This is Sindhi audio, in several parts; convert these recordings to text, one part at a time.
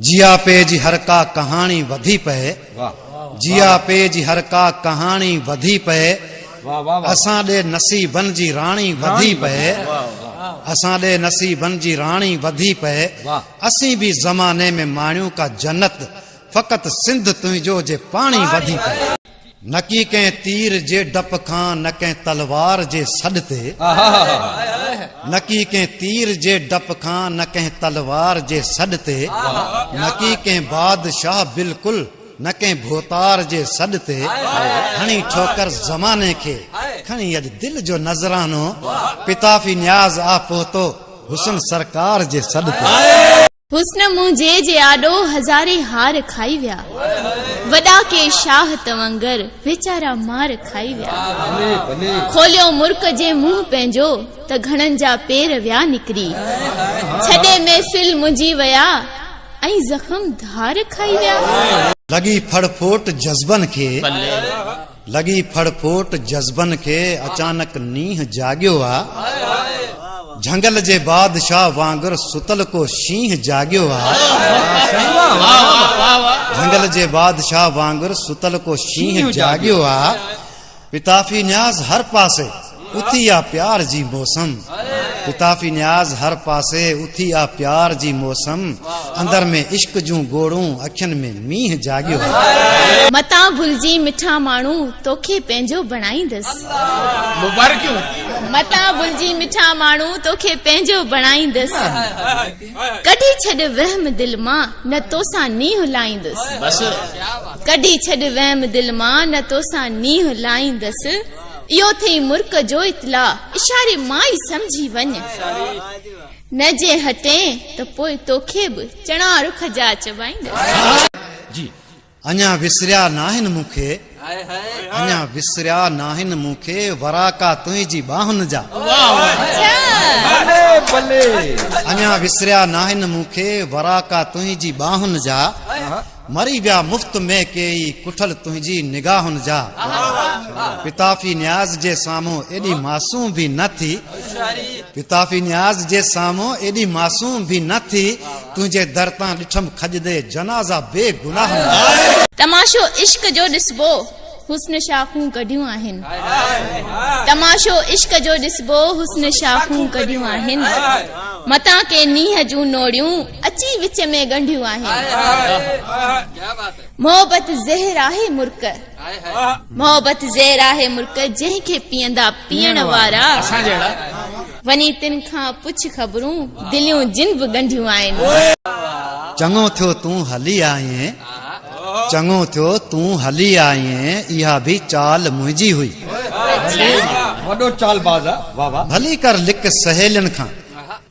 جيا پي جي هر ڪا ڪهاڻي وڌي پئي جيا پي جي هر ڪا ڪهاڻي وڌي پئي اسان ڏي نصيبن جي راڻي وڌي پئي اسان ڏي نصيبن جي راڻي وڌي پئي اسين به زماني ۾ ماڻيون ڪا جنت فقط سنڌ تنهنجو جي پاڻي وڌي پئي نڪي ڪنهن تير جي ڊپ کان نه ڪنهن تلوار جي سڏ تي نڪي ڪنهن تير جي ڊپ کان نه ڪنهن تلوار جي سڏ تي نڪي ڪنهن بادشاهه بلڪل نه ڪنهن ڀوتار جي سڏ تي کڻي ٺوڪر زماني کي کڻي اڄ دل جو نذرانو پتافي نياز آ پهتو حسن سرڪار جي سڏ تي حسن منهنجي جي آڏو هزارين هار کائي ويا وڏا ڪي شاهه توانگر ويچارا مار کائي ويا کوليو مرڪ جي منهن پنهنجو ته گهڻن جا پير ويا نڪري ڇڏي محفل منهنجي ويا ۽ زخم ڌار کائي ويا. لڳي ڦڙ ڦوٽ جذبن کي. لڳي ڦڙ ڦوٽ جذبن کي اچانڪ نينهن جاڳيو آ جهنگل جي بادشاهه وانگر ستل ڪو شينهن جاڳيو آ جهنگل جي بادشاهه وانگر ستل ڪو شينهن جاڳيو آ پتافي نياز هر پاسي اٿي آ پيار جي موسم لطافي نياز هر پاسي اٿي آ پيار جي موسم اندر ۾ عشق جون گوڙون اکين ۾ مينهن جاڳيو آ. متان ڀلجين مٺا ماڻهو توکي پنهنجو بڻائيندس. مبارڪيون. متان ڀلجين مٺا ماڻهو توکي پنهنجو بڻائيندس. ڪڍي ڇڏ وهم دل مان نه توسان نينهن لائيندس. ڪڍي ڇڏ وهم دل مان نه توسان نينهن لائيندس. اهو ٿئي مرڪ جو اطلاع. اشاري مان ئي سمجهي وڃ. نه جي هٽين ته پوء توکي به چڻا رک جا چبائيندس. جي اڃا وسريا ناهن مون کي. اڃا وسريا ناهن مون کي. وراڪا تنهنجي ٻانهن جا. اڃا وسريا ناهن مون کي. وراڪا تنهنجي ٻانهن جا. مري ويا مفت ۾ ڪيئي ڪٺل تنهنجي نگاهن جا پتافي نياز جي سامهون ايڏي معصوم به نه ٿي پتافي نياز جي سامهون ايڏي معصوم به نه ٿي تنهنجي در تان ڏٺم کڄندي جنازا بي گناهن جا. تماشو عشق جو ڏسبو. حسن شاخون ڪڍيون آهن. تماشو عشق جو ڏسبو حسن شاخون ڪڍيون آهن. متان ڪي نينهن جون نوڙيون اچي وچ ۾ ڳنڍيون آهن. محبت زهر آهي مرڪ محبت زهر آهي مرڪ جنهن کي پيئندا پيئڻ وارا وڃي تن کان پڇ خبرون، دليون جن به ڳنڍيون آهن. چڱو ٿيو تون هلي آئين. چڱو ٿيو تون هلي آئين اها به چال منهنجي هئي. وڏو چال باز آ واھ واھ. ڀلي ڪر لڪ سهيلين کان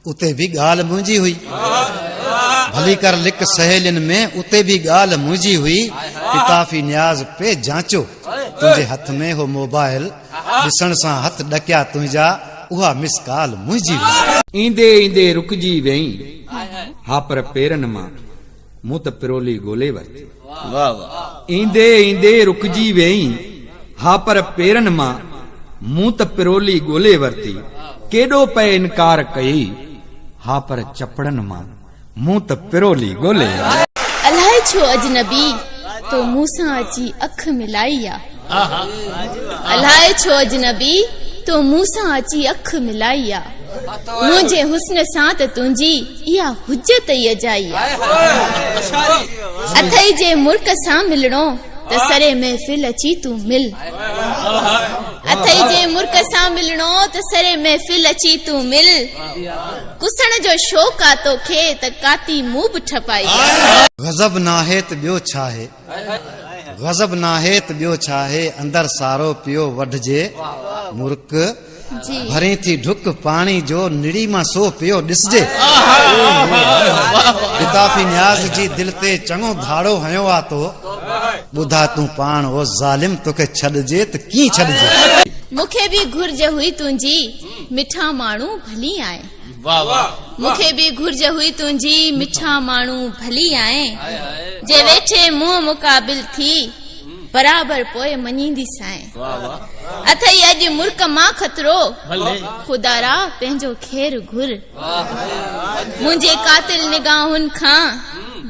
اتي به ڳالھ منهنجي هئي. ڀلي ڪر لڪ سهيلين ۾ اتي به ڳالھ منهنجي هئي. الطافي نياز پئي جانچو تنهنجي هٿ ۾ هو موبائل. ڏسڻ سان هٿ ڏڪيا تنهنجا، اها مس ڪال منهنجي هئي. ايندي ايندي رڪجي ويئين ها پر پيرن مان مون ته پرولي ڳولي ورتي. ايندي ايندي رڪجي ويئين ها پر پيرن مان مون ته پرولي ڳولي ورتي. ڪيڏو پئي انڪار ڪيئي ها پر چپڙن مان. مون ته پرولي ڳولي. الائي ڇو اجنبي تو مون سان اچي اک ملائي آ. الائي ڇو اجنبي تو مون سان اچي اک ملائي آ. منهنجي حسن سان ته تنهنجي اها حجت ئي اجائي آ. اٿئي جي مرڪ سان ملڻو ته سري محفل اچي تون مل. اٿئي جي مرڪ سان ملڻو ته سري محفل اچي تون مل. ڪسڻ جو شوق آ توکي ته ڪاتي مون به ٺپائي آ. غضب ناهي ته ٻيو ڇاهي. غضب ناهي ته ٻيو ڇاهي اندر سارو پيو وڍجي مرڪ ڀرين ٿي ڍڪ پاڻي جو نڙي مان سو پيو ڏسجي الطافي نياز جي دل تي چڱو ڌاڙو هنيو آ تو ٻڌاء تون پاڻ او ظالم توکي ڇڏجي ته ڪيئن ڇڏجي. مونکي به گهرج هئي تنهنجي. مٺا ماڻهو ڀلي آهي. واه واه. مون کي به گهرج هئي تنهنجي. مٺا ماڻهو ڀلي آهي. جي ويٺي منهن مقابل ٿي. برابر پوء مڃيندي سائين. واه واه. اٿئي اڄ مرڪ مان خطرو. ڀلي. خدا را پنهنجو خير گهر. منهنجي قاتل نگاهن کان.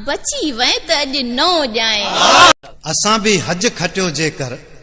بچي وئين ته اڄ نئون ڄائين. اسان به حج کٽيو جيڪر.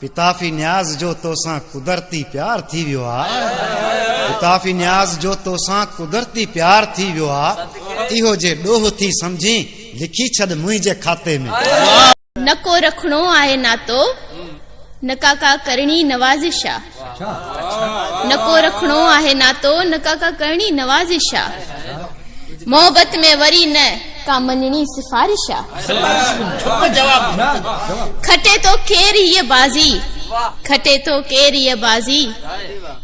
پتافي نياز جو توسان قدرتي پيار ٿي ويو آ پتافي نياز جو توسان قدرتي پيار ٿي ويو آ اهو جي ڏوهه ٿي سمجهين لکي ڇڏ منهنجي کاتي ۾. نه ڪو رکڻو آهي ناتو نه ڪا ڪا ڪرڻي نوازش آ. نه ڪو رکڻو آهي ناتو، نه ڪا ڪا ڪرڻي نوازش آ. محبت ۾ وري نه ڪا مڃڻي سفارش آ. کٽي ٿو ڪير هيء بازي، کٽي ٿو ڪير هيء بازي،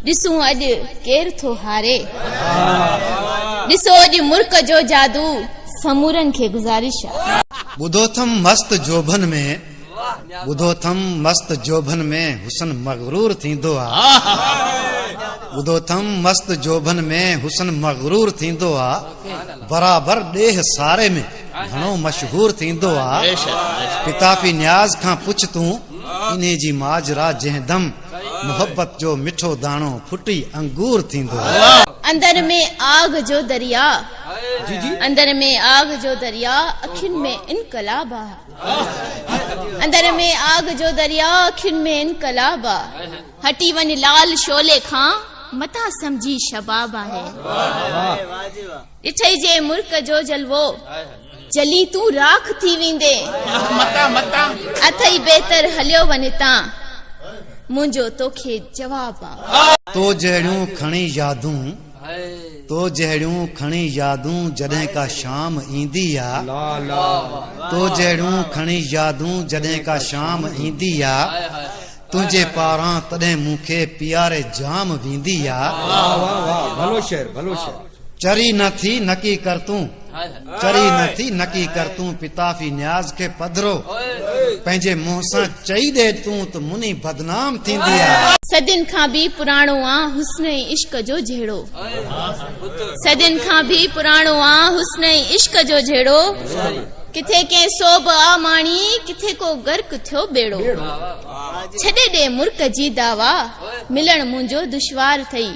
ڏسون اڄ ڪير ٿو هاري. ڏسو اڄ مرڪ جو جادو، سمورن کي گذارش آ. ٻڌو ٿم مست جوڀن ۾. ٻڌو ٿم مست جوڀن ۾ حسن مغرور ٿيندو آ ٻڌو ٿم مست جوڀن ۾ حسن مغرور ٿيندو آ برابر ڏيھ ساري ۾ گھڻو مشهور ٿيندو آ پتافي نياز کان پڇ تون انهي جي ماجرا جنهن دم محبت جو مٺو داڻو ڦٽي انگور ٿيندو آ اندر ۾ آگ جو دريا اندر ۾ آگ جو دريا اکين ۾ انقلاب آ. اندر ۾ آگ جو درياء اکين ۾ انقلاب آ هٽي وڃ لال شعلي کان متان سمجهي شباب آهي ڏٺئي جي مرڪ جو جلوو جلي تون راک ٿي ويندي اٿئي بهتر هليو وڃ هتان منهنجو توکي جواب آ تو جهڙيون کڻي يادون تو جهڙيون کڻي يادون جڏهن ڪا شام ايندي آ تو جهڙيون کڻي يادون جڏهن ڪا شام ايندي آ تنهنجي پاران تڏهن مون کي پياري جام ويندي آ چري نه ٿي نڪي ڪر تون چري نه ٿي نڪي ڪر تون پتافي نياز کي پڌرو پنهنجي منهن سان چئي ڏي تون ته مني بدنام ٿيندي آ. صدين کان به پراڻو آ حسن ۽ عشق جو جهيڙو صدين کان به پراڻو آ حسن ۽ عشق جو جهيڙو ڪٿي ڪنهن سوڀ آ ماڻي ڪٿي ڪو غرق ٿيو ٻيڙو ڇڏي ڏي مرڪ جي دعويٰ ملڻ منهنجو دشوار ٿئي.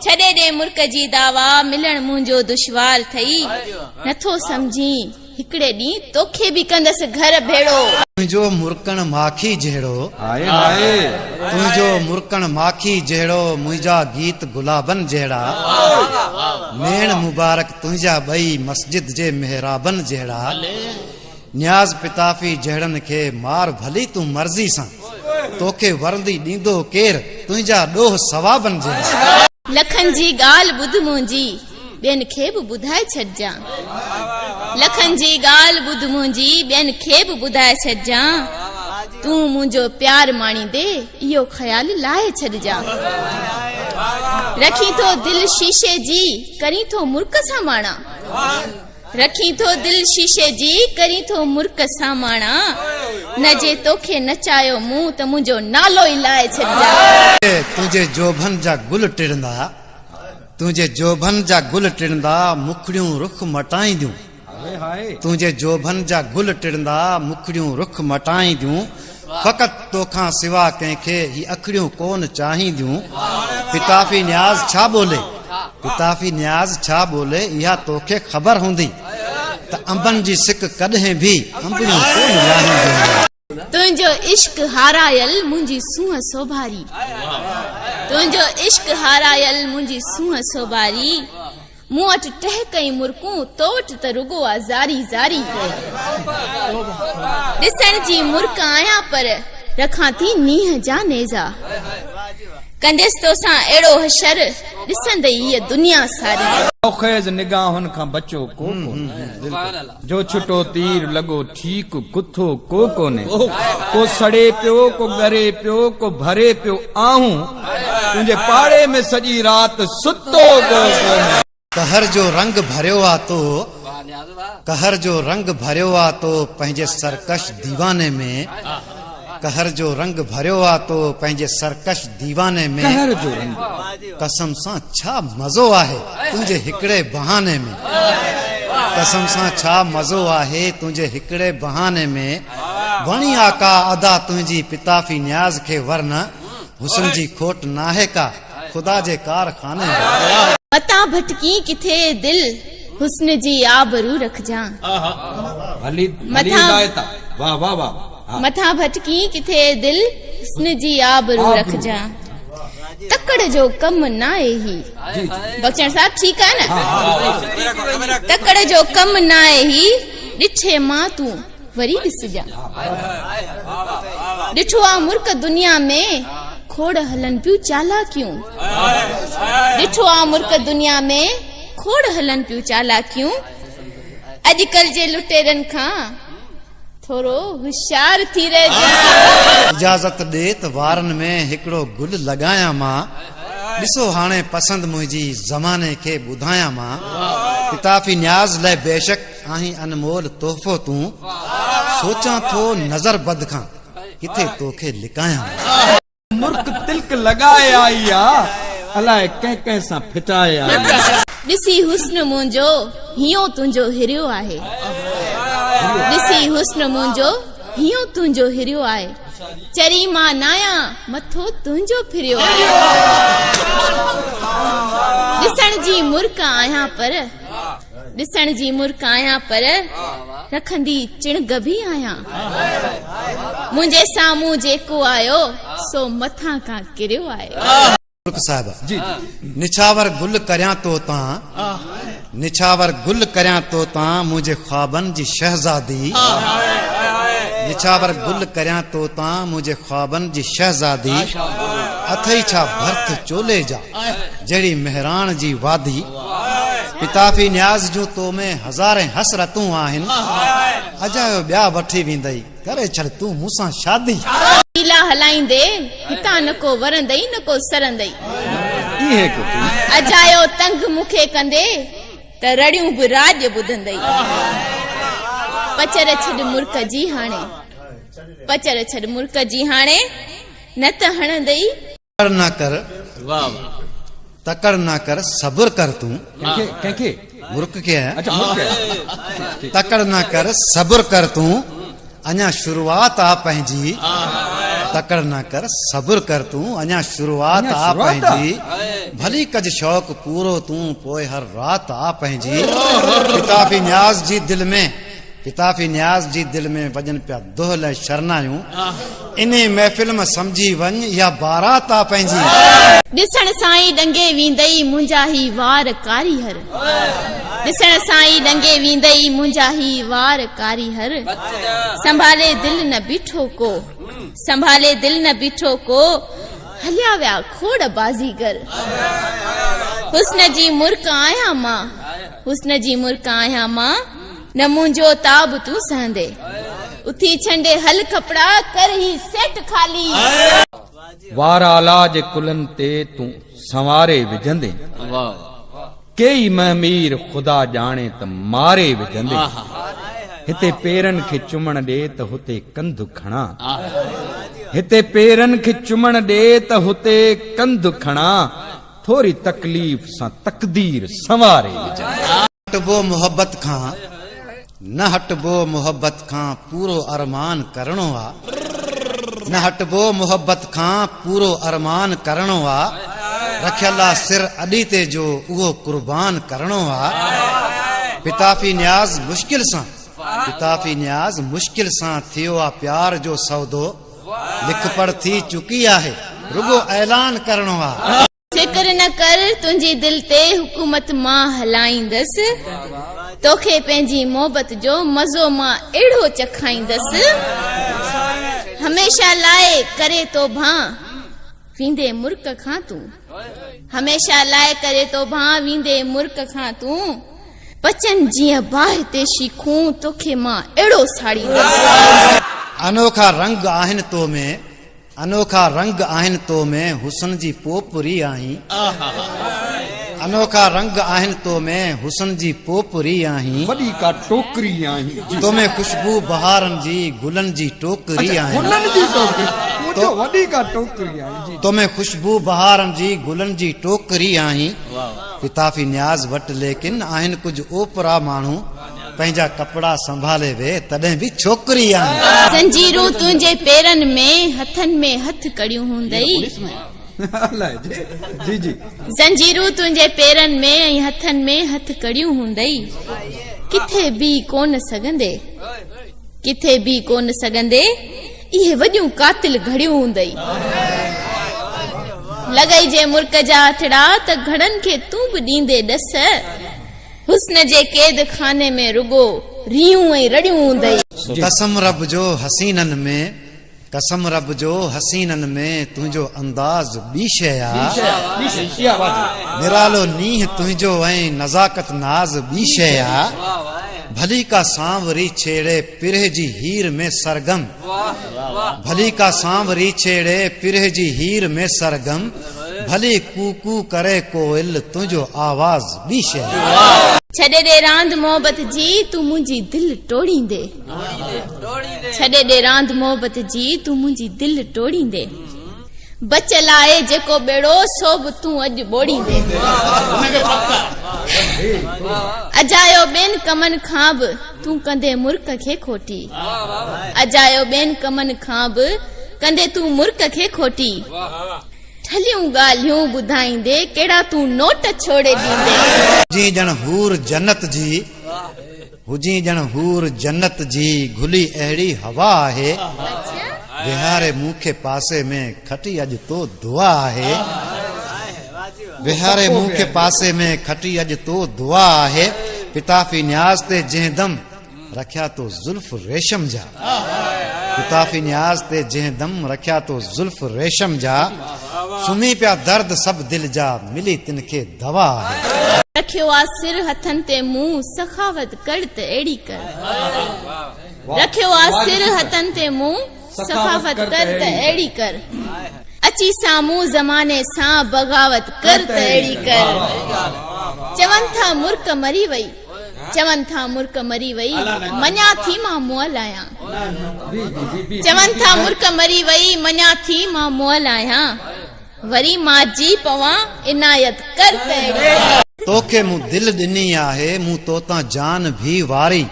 ڇڏي ڏي مرڪ جي دعويٰ ملڻ منهنجو دشوار ٿئي نٿو سمجهين هڪڙي ڏينهن توکي به ڪندس گهر ڀيڙو. تنهنجو مرڪڻ ماکي جهڙو تنهنجو مرڪڻ ماکي جهڙو منهنجا گيت گلابن جهڙا نيڻ مبارڪ تنهنجا ٻئي مسجد جي محرابن جهڙا. نياز پتافي جهڙن کي مار ڀلي تون مرضي سان توکي ورندي ڏيندو ڪير تنهنجا ڏوهه ثوابن جهڙا. لکن جي ڳالهه ٻڌ منهنجي ٻين کي به ٻڌائي ڇڏجان لکن جي ڳالهه ٻڌ منهنجي ٻين کي به ٻڌائي ڇڏجان تون منهنجو پيار ماڻيندي اهو خيال لاهي ڇڏجان رکين ٿو دل شيشي جي ڪرين ٿو مرڪ سان ماڻان رکين ٿو دل شيشي جي ڪرين ٿو مرڪ ساماڻا نه جي توکي نچايو مون ته منهنجو نالو ئي لائي ڇڏجان. تنهنجي جوڀن جا گل ٽڙندا تنهنجي جوڀن جا گل ٽڙندا مکڙيون رخ مٽائينديون تنهنجي جوڀن جا گل ٽڙندا مکڙيون رخ مٽائينديون. فقط تو کان سوا ڪنهن کي هي اکڙيون ڪون چاهينديون پتافي نياز ڇا ٻولي پتافي نياز ڇا ٻولي اها تو کي خبر هوندي ته انبن جي سڪ ڪڏهن به انبڙيون ڪون لاهينديون تنهنجو عشق هارايل منهنجي سونهن سوڀاري تنهنجو عشق هارايل منهنجي سونهن سوڀاري مون وٽ ٽهڪ ۽ مرڪون، تو وٽ ته رڳو آ زاري زاري. ڏسڻ جي مرڪ آهيان پر، رکان ٿي نينهن جا نيزا. ڪنديس توسان اهڙو حشر، ڏسندئي هيء دنيا ساري. شوخيز نگاهن کان بچو ڪو ڪونه. جو ڇٽو تير لڳو ٺيڪ ڪٿو ڪو ڪونهي ڪو سڙي پيو ڪو ڳري پيو ڪو ڀري پيو آهون تنهنجي پاڙي ۾ سڄي رات ستو ڪو ڪونهي. قهر جو رنگ ڀريو آ تو قهر جو رنگ ڀريو آ تو پنهنجي سرڪش ديواني ۾ قهر جو رنگ ڀريو آ تو پنهنجي سرڪش ديواني ۾. قهر جو رنگ. قسم سان ڇا مزو آهي تنهنجي هڪڙي بهاني ۾. قسم سان ڇا مزو آهي تنهنجي هڪڙي بهاني ۾. وڻي آقا ادا تنهنجي پتافي نياز کي ورنه حسن جي کوٽ ناهي ڪا. خدا جي ڪار خاني ۾. متان ڀٽڪين ڪٿي دل حسن جي آبرو رکجان. متان ڀٽڪين ڪٿي دل حسن جي آبرو رکجان. تڪڙ جو ڪم ناهي هي. بخشڻ صاحب ٺيڪ آهي نه. تڪڙ جو ڪم ناهي هي ڏٺي مان تون. وري ڏسجان. ڏٺو آ مرڪ دنيا ۾ کوڙ هلن پيون چالاڪيون. ڏٺو آ مرڪ دنيا ۾ کوڙ هلن پيون چالاڪيون. اڄڪل جي لٽيرن کان ٿورو هوشيار ٿي رهجان. اجازت ڏي ته وارن ۾ هڪڙو گل لڳايان مان. ڏسو هاڻي پسند منهنجي زماني کي ٻڌايان مان. الطافي نياز لئه بيشڪ آهين انمول تحفو تون سوچان ٿو نظر بد کان ڪٿي توکي لڪايان. مرڪ تلڪ لڳائي آئي آ الاء ڪنهن ڪنهن سان ڦٽائي آئي. ڏسي حسن منهنجو هيون تنهنجو هريو آهي ڏسي حسن منهنجو هيون تنهنجو هريو آهي چري مان نايان مٿو تنهنجو ڦريو آهي ڏسڻ جي مرڪ آهيان پر ڏسڻ جي مرڪ آهيان پر رکندي چڻگ به آهيان منهنجي سامهون جيڪو آيو سو مٿان کان ڪريو آهي. ترڪ صاحب نڇاور گل ڪريان تو تان نڇاور گل ڪريان تو تان منهنجي خوابن جي شهزادي نڇاور گل ڪريان تو تان منهنجي خوابن جي شهزادي اٿئي ڇا ڀرٿ چولي جا جهڙي مهراڻ جي وادي پتافي نياز جون تو ۾ هزارين حسرتون آهن اجايو ٻيا وٺي ويندئي ڪري ڇڏ تون مون سان شادي پيلا هلائيندي هتان نه ڪو ورندئي نه ڪو سرندئي اجايو تنگ مون کي ڪندي ته رڙيون به راڄ ٻڌندئي پچر ڇڏ مرڪ جي هاڻي پچر ڇڏ مرڪ جي هاڻي نه ته هڻندئي تڪڙ نه ڪر تڪڙ نه ڪر صبر ڪر تون ڪنهن کي مرڪ کي تڪڙ نه ڪر صبر ڪر تون اڃا شروعات آ پنهنجي تڪڙ نه ڪر صبر ڪر تون اڃا شروعات آ پنهنجي ڀلي ڪج شوق پورو تون پوء هر رات آ پنهنجي ڪتاب نياز جي دل ۾ پتافي نياز جي دل ۾ وڄن پيا دهل ۽ شرنايون انهي محفل مان سمجهي وڃ اها بارات آ پنهنجي. ڏسڻ سان ئي ڏنگي ويندئي منهنجا هي وار ڪاري هر ڏسڻ سان ئي ڏنگي ويندئي منهنجا هي وار ڪاري هر سنڀالي دل نه بيٺو ڪو سنڀالي دل نه بيٺو ڪو هليا ويا کوڙ بازيگر حسن جي مرڪ آهيان مان حسن جي مرڪ آهيان مان نه منهنجو تاب تون سهندي. اٿي ڇنڊي هل ڪپڙا ڪر هي سيٽ خالي. وار آلا جي ڪلهن تي تون سنواري وجهندي. ڪيئي مه مير خدا ڄاڻي ته ماري وجهندي. هتي پيرن کي چمڻ ڏي ته هتي ڪنڌ کڻان. هتي پيرن کي چمڻ ڏي ته هتي ڪنڌ کڻان. ٿوري تڪليف سان تقدير سنواري وجهندي. هٽبو محبت کان نه هٽبو محبت کان پورو ارمان ڪرڻو آ نه هٽبو محبت کان پورو ارمان ڪرڻو آ رکيل آ سر اڏي تي جو اهو قربان ڪرڻو آ پتافي نياز مشڪل سان پتافي نياز مشڪل سان ٿيو آ پيار جو سودو لک پڙ ٿي چڪي آهي رڳو اعلان ڪرڻو آ فڪر نه ڪر تنهنجي دل تي حڪومت مان هلائيندس توکي پنهنجي محبت جو مزو مان اهڙو چکائيندس هميشه لاء ڪري توبهان ويندي مرڪ کان تون هميشه لاء ڪري توبهان ويندي مرڪ کان تون پچن جيئن باهه تي شيخون توکي مان اهڙو ساڙيندس انوکا رنگ آهن تو ۾ انوکا رنگ آهن تو ۾ حسن جي پوپري آهين انوکا رنگ آهن تو ۾ حسن جي پوپري آهين وڏي ڪا ٽوڪري آهين تو ۾ خوشبو بهارن جي گلن جي ٽوڪري آهين گلن جي ٽوڪري تو وڏي ڪا ٽوڪري آهين تو ۾ خوشبو بهارن جي گلن جي ٽوڪري آهين پتافي نياز وٽ ليڪن آهن ڪجهه اوپرا ماڻهو پنهنجا ڪپڙا سنڀالي ويهه تڏهن به ڇوڪري آهين. زنجيرون تنهنجي پيرن ۾. هٿن ۾ هٿ ڪڙيون هوندئي. زنجيرون تنهنجي پيرن ۾. ۽ هٿن ۾ هٿ ڪڙيون هوندئي. ڪٿي بيهي ڪونه سگهندي. ڪٿي بيهي ڪونه سگهندي. اهي وڏيون قاتل گهڙيون هوندئي. لڳئي جي مرڪ جا هٿڙا. ته گهڙن کي تون به ڏيندي ڏس. حسن جي قيد خاني ۾ رڳو ريون ۽ رڙيون هوندئي. قسم رب جو حسينن ۾ قسم رب جو حسينن ۾ تنهنجو انداز ٻي شيء آ نرالو نينهن تنهنجو ۽ نزاڪت ناز ٻي شيء آ ڀلي ڪا سانوري ڇيڙي پرهه جي هير ۾ سرگم ڀلي ڪا سانوري ڇيڙي پرهه جي هير ۾ سرگم ڀلي ڪو ڪو ڪري ڪوئل تنهنجو آواز ٻي شهر. ڇڏي ڏي راند محبت جي تون منهنجي دل ٽوڙيندي ڇڏي ڏي راند محبت جي تون منهنجي دل ٽوڙيندي. بچ لاء جيڪو ٻيڙو سو به تون اڄ ٻوڙيندين. اجايو ٻين ڪمن کان به تون ڪندين مرڪ کي کوٽي. اجايو ٻين ڪمن کان به ڪندين تون مرڪ کي کوٽي. ٺلهيون ڳالهيون ٻڌائيندي ڪهڙا تون نوٽ ڇوڙي ڏيندين. جيئن ڄڻ حور جنت جي. هجين ڄڻ حور جنت جي گهلي اهڙي هوا آهي ويهاري مون کي پاسي ۾ کٽي اڄ تو دعا آهي ويهاري مون کي پاسي ۾ کٽي اڄ تو دعا آهي پتافي نياز تي جنهن دم رکيا تو زلف ريشم جا ڪتافي نياز تي جنهن دم رکيا تو زلف ريشم جا سمهي پيا درد سڀ دل جا ملي تن کي دوا آهي. رکيو آ سر هٿن تي مون سخاوت ڪر ته اهڙي ڪر. رکيو آ سر هٿن تي مون سخاوت ڪر ته اهڙي ڪر. اچي سامهون زماني سان بغاوت ڪر ته اهڙي ڪر. چون ٿا مرڪ مري وئي. چون ٿا مرڪ مري وئي، مڃان ٿي مان مئل آهيان. چون ٿا مرڪ مري وئي، مڃان ٿي مان مئل آهيان. وري مان جي پوان، عنايت ڪر ته اهڙي. توکي مون دل ڏني آهي، مون توتان جان ڀي واري.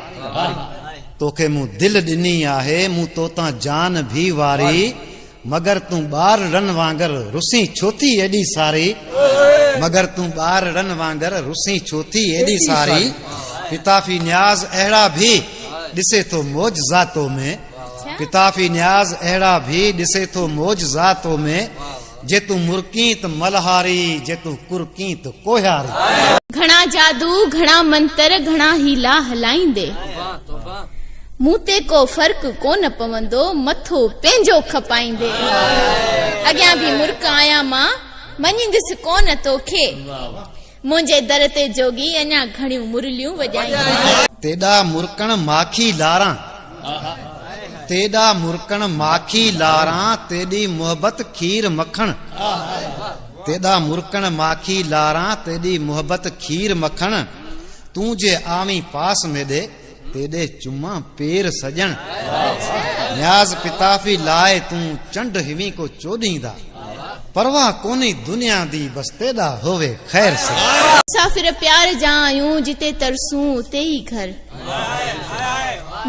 توکي مون دل ڏني آهي، مون توتان جان ڀي واري. مگر تون ٻار ڙن وانگر رسين ڇو ٿي ايڏي ساري مگر تون ٻار ڙن وانگر رسين ڇو ٿي ايڏي ساري پتافي نياز اهڙا ڀي ڏسي ٿو معجزا تو ۾ پتافي نياز اهڙا ڀي ڏسي ٿو معجزا تو ۾ جي تون مرڪين ته ملهاري جي تون ڪرڪين ته ڪوهياري. گهڻا جادو گهڻا منتر گهڻا حيلا هلائيندي. مون تي ڪو فرق ڪونه پوندو مٿو پنهنجو کپائيندي اڳيان به مرڪ آهيان مان مڃيندس ڪونه توکي منهنجي در تي جوڳي اڃا گهڻيون مرليون وڄائيندي. تيڏا مرڪڻ ماکي لاران تيڏا مرڪڻ ماکي لاران تيڏي محبت کير مکڻ تيڏا مرڪڻ ماکي لاران تيڏي محبت کير مکڻ تون جي آوين پاس ميڏي تيڏي چمان پير سڄڻ نياز پتافي لاء تون چنڊ هوين ڪو چوڏهين دا پرواهه ڪونهي دنيا دي بس تيڏا هووي خير سڄڻ. مسافر پيار جا آهيون جتي ترسون اتي ئي گهر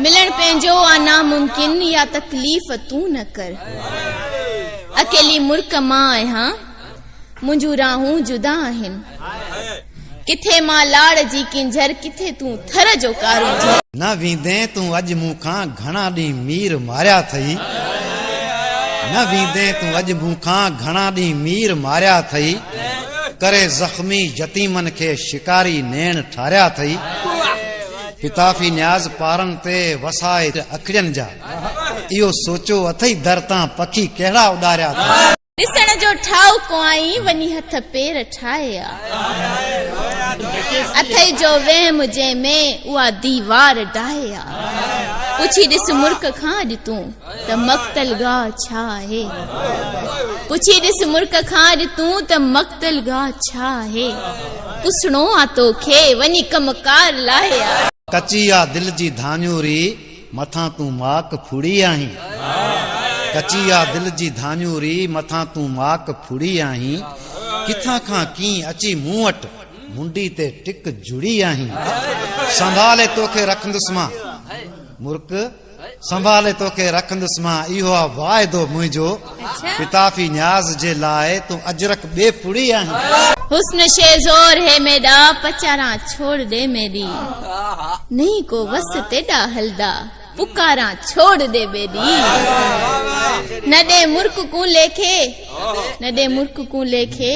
ملڻ پنهنجو آ ناممڪن يا تڪليف تون نه ڪر اڪيلي مرڪ مان آهيان. منهنجون راهون جدا آهن. ڪٿي مان لاڙ جي ڪينجهر ڪٿي تون ٿر جو ڪارونجهر. نه ويندين تون اڄ مون کان گهڻا ڏينهن مير ماريا اٿئي. نه ويندين تون اڄ مون کان گهڻا ڏينهن مير ماريا اٿئي. ڪري زخمي يتيمن کي شڪاري نيڻ ٺاريا اٿئي. پتافي نياز پارن تي وسائي اکڙين جا اهو سوچيو اٿئي در تان پکي ڪهڙا اڏاريا اٿئي. ڏسڻ جو ٺاهو ڪوئائين وڃي هٿ پير ٺاهي آ. اٿئي جو وهم جنهن ۾ اها ديوار ڊاهي آ. پڇي ڏس مرڪ کان اڄ تون ته مقتل گاهه ڇا آهي. پڇي ڏس مرڪ کان اڄ تون ته مقتل گاهه ڇا آهي. پسڻو آ توکي وڃي ڪم ڪار لاهي آ. ڪچي آ دل جي ڌاڃوري. مٿان تون ماڪ ڦڙي آهين ڪچي آ دل جي ڌاڃوري مٿان تون ماڪ ڦڙي آهين ڪٿان کان ڪين اچي مون وٽ منڊي تي ٽڪ جڙي آهين سنڀالي توکي رکندس مان مرڪ سنڀالي توکي رکندس مان اهو آ واعدو منهنجو پتافي نياز جي لاء تون اجرڪ ٻي پڙي آهين. حسن شي زور هي ميڏا پچاران ڇوڙ ڏي ميڏي نهين ڪو وس تيڏا هلدا پڪاران ڇوڙ ڏي ميڏي نه ڏي مرڪ ڪون ليکي نه ڏي مرڪ ڪون ليکي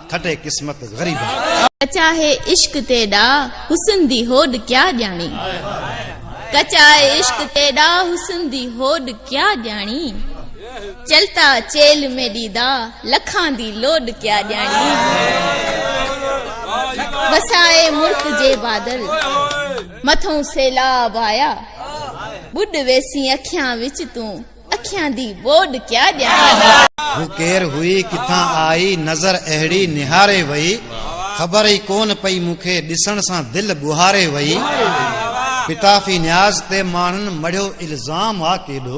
کٽي قسمت غريبان. ڪچا هي عشق تيڏا حسن دي هوڏ ڪيا ڄاڻي. ڪچا هي عشق تيڏا حسن دي هوڏ ڪيا ڄاڻي. چلتا چيلھ ۾ ڏيدا لکان دي لوڏ ڪيا ڄاڻي. وسائي مرڪ جي بادل مٿئون سيلاب آيا. ٻڏ ويسين اکيان وچ تون. اکيان دي ٻوڏ ڪيا ڏيان. هو ڪير هئي ڪٿان آئي نظر اهڙي نهاري وئي خبر ئي ڪون پئي مون کي ڏسڻ سان دل ٻهاري وئي پتافي نياز تي ماڻهن مڙهيو الزام آ ڪيڏو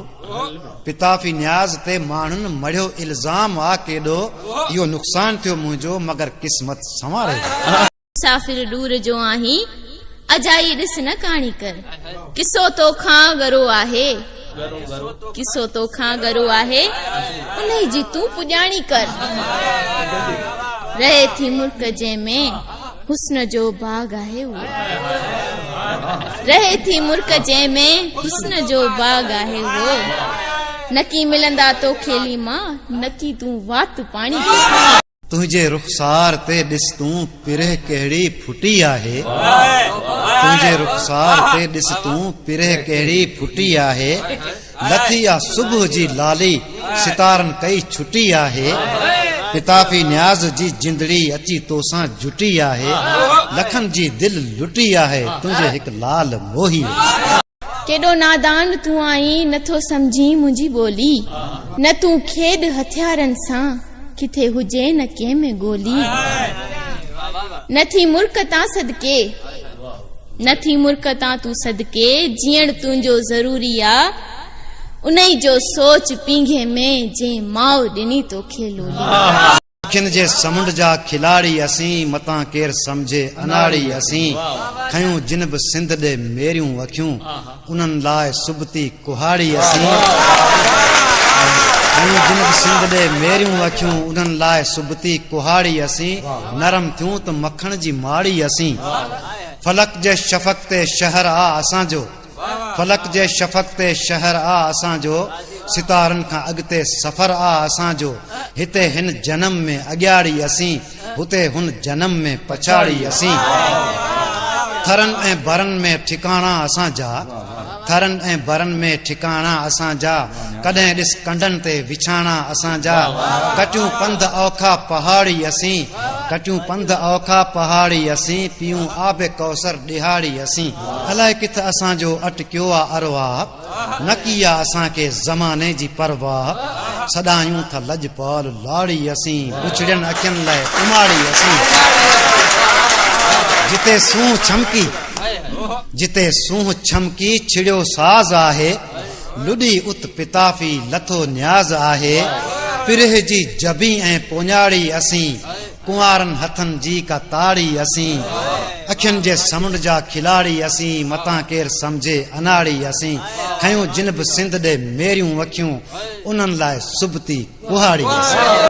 پتافي نياز تي ماڻهن مڙهيو الزام آ ڪيڏو اهو نقصان ٿيو منهنجو مگر قسمت سنواري وئي. مسافر ڏور جو آهين اجائي ڏس نه ڪاڻي ڪر قصو توکان ڳرو آهي قصو توکان ڳرو آهي انهي جي تون پڄاڻي ڪر رهي ٿي ملڪ جنهن ۾ حسن جو باغ آهي رهي ٿي ملڪ جنهن ۾ حسن جو باغ آهي اهو نڪي ملندا توکي ليما نڪي تون وات پاڻي تنهنجي رخسار تي ڏس تون پرهه ڪهڙي ڦٽي آهي تنهنجي رخسار تي ڏس تون پرهه ڪهڙي ڦٽي آهي لٿي آ صبح جي لالي ستارن ڪئي ڇٽي آهي پتافي نياز جي جندڙي اچي توسان جٽي آهي لکن جي دل لٽي آهي تنهنجي هڪ لال موهي ڪيڏو نادان تون آهين نه ٿو سمجهين منهنجي ٻولي نه تون کيڏ هٿيارن سان ڪٿي هجي نه ڪنهن ۾ گولي نه ٿي مرڪ تان صدقي نه ٿي مرڪ تان تون صدقي جيئڻ تنهنجو ضروري آ انهي جو سوچ پينگهي ۾ جنهن ماء ڏني توکي لولي اکين جي سمنڊ جا کلاڙي اسين متان ڪير سمجهي اناڙي اسين کنيون جن به سنڌ ڏي ميريون اکيون انهن لاء سبتي ڪهاڙي اسين کنيون جن به سنڌ ڏي ميريون اکيون انهن لاء سبتي ڪهاڙي اسين نرم ٿيون ته مکڻ جي ماڙي اسين فلڪ جي شفق تي شهر آ اسان جو فلڪ جي شفق تي شهر آ اسان جو، ستارن کان اڳتي سفر آ اسان جو، هتي هن جنم ۾ اڳياڙي اسين، هتي هن جنم ۾ پڇاڙي اسين، ٿرن ۽ برن ۾ ٺڪاڻا اسان جا، ٿرن ۽ برن ۾ ٺڪاڻا اسان جا، ڪڏهن ڏس ڪنڊن تي وڇاڻا اسان جا، ڪٽيون پنڌ اوکا پهاڙي اسين، ڪٽيون پنڌ اوکا پهاڙي اسين، پيئون آب ڪوثر ڏيهاڙي اسين، الائي ڪٿ اسان جو اٽڪيو آ ارواح، نه ڪي آ اسان کي زماني جي پرواح، سڏايون ٿا لڄپال لاڙي اسين، بڇڙين اکين لئه اماڙي اسين، جتي سونهن ڇمڪي، جتي سونهن ڇمڪي ڇڙيو ساز آهي، لڏي ات پتافي لٿو نياز آهي، پرهه جي جبي ۽ پوڃاڙي اسين، ڪنوارن هٿن جي ڪا تاڙي اسين اکين جي سمنڊ جا کلاڙي اسين متان ڪير سمجهي اناڙي اسين کيون جن به سنڌ ڏي ميريون اکيون انهن لاء سبتي ڪهاڙي اسين